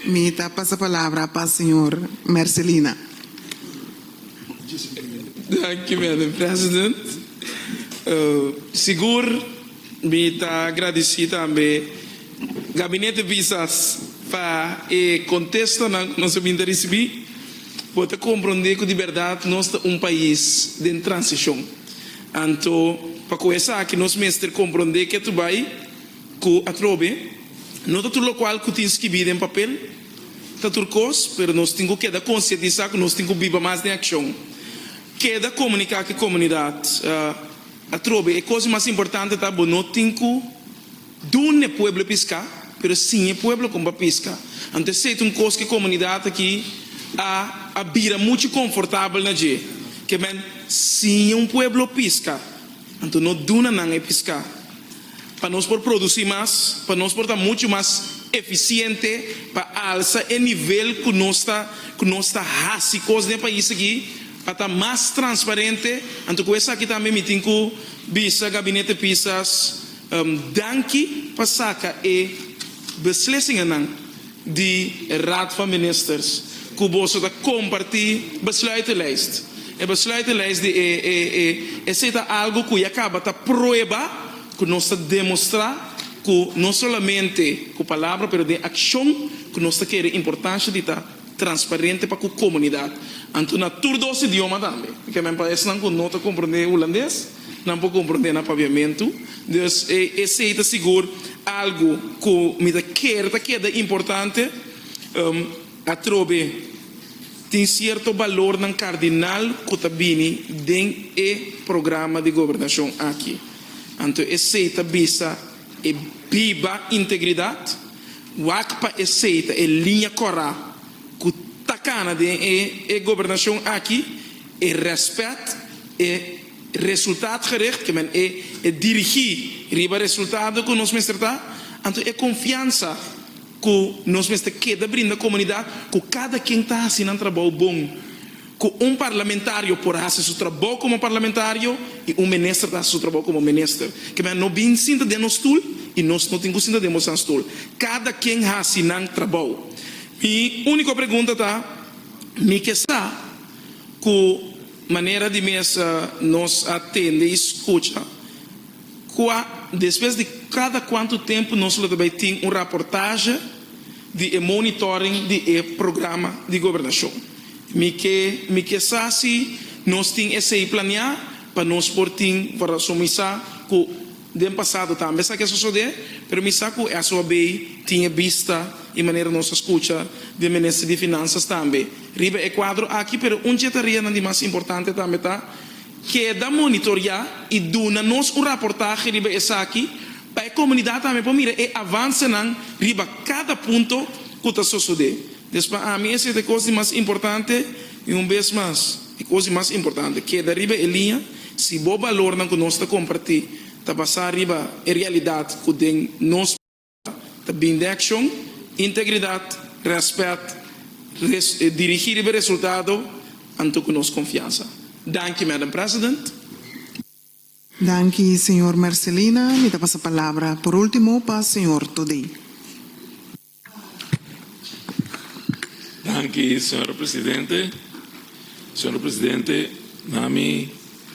Mi ta pasa palabra pa señor Mercelina. Danki Madam President. Sigur mi ta agradeci tambe Gabinete Visas pa e contestonan cu nos a bini ta ricibi. Bo ta compronde cu di berdad nos ta un pais den transicion. Anto pa cu esaki nos mester compronde ke tu bay Ku atrobe, no ta tur lokual ku tin skibí den papel ta tur kos, pero nos tin ku keda konsientisá ku nos tin ku biba mas den akshon. Keda komuniká ku e komunidat. Atrobe, e kos mas importante ta bo no tin ku duna e pueblo piská, pero siña e pueblo kon pa piska. Anto esei ta un kos ku e komunidat aki a a bira muchu konfortabel na dje. Ke men, siña un pueblo piska, anto no duna nan e piská. Pa nos por produci mas, pa nos por ta mucho mas eficiente, pa alsa e nivel cu nos ta cu nos ta haci cos den e pais aki, pa ta mas transparente, anto cu esaki tambe mi tin cu bisa Gabinete Pisas danki pa saca e beslisingannan. di e Raad van Ministers ku boso ta kompartí besluitenlijst. E besluitenlijst di e e esei ta algu ku ya kaba ta prueba ku nos ta demostrá ku no solamente ku palabra pero den akshon ku nos ta kere importansha di ta transparente pa ku komunidat, anto na tur dos idioma tambe. Ke men pa esnan ku no ta komprendé hulandes. Nan por comprende na pabiamentu. Dus esey ta sigur algo cu mi ta ker ta keda importante. Atrobe tin cierto balornan cardinal cu ta bini den e programa di gobernacion aki. Anto esey ta bisa e biba integridad. Wak pa esey ta e linea cora cu ta cana den e gobernacion aki. e respet, e resultaatgericht, ke men e dirigí riba resultado ku nos mester ta, anto e konfiansa ku nos mester keda brinda komunidat ku kada ken ta hasi nan trabou bon, ku un parlamentario por a hasi su trabou komo parlamentario i un minister ta hasi su trabou komo minister. Ke men a no bin sinta den nos stul i nos no tin ku sinta den boso nan stul. Kada ken hasi nan trabou. Mi úniko pregunta ta, Mi ke sa. Ku manera di mesa nos a tende i skucha? Kua despues di kada kuantu tempu nos lo ta bai tin un raportashe di e monitoring di e programa di gobernashon? Mi ke mi ke sa si nos tin esei planeá pa nos por tin, pasobra mi sa ku Den pasado tambe esaki a sosodé, pero mi sa ku esun a bay tin e bista i manera nos a skucha di e minister di Finansas tambe riba e kuadro aki. Pero un dje tarianan di mas importante tambe ta keda monitoriá i duna nos un raportahe riba esaki pa e komunidat tambe por mira e avansenan riba kada punto ku ta sosodé. Des pa ami esei ta e kos di mas importante i un bes mas. E kos di mas importante, keda riba e liña si bo balornan ku nos ta kompartí ta basá riba e realidat ku den nos parágrafo ta bini den akshon, integridat, rèspèt, dirigí riba resultado, anto ku nos konfiansa. Danki, Madam President. Danki, señor Mercelina. Mi ta pasa palabra por último pa señor Toddy. Danki señora presidente, señora presidente na mi.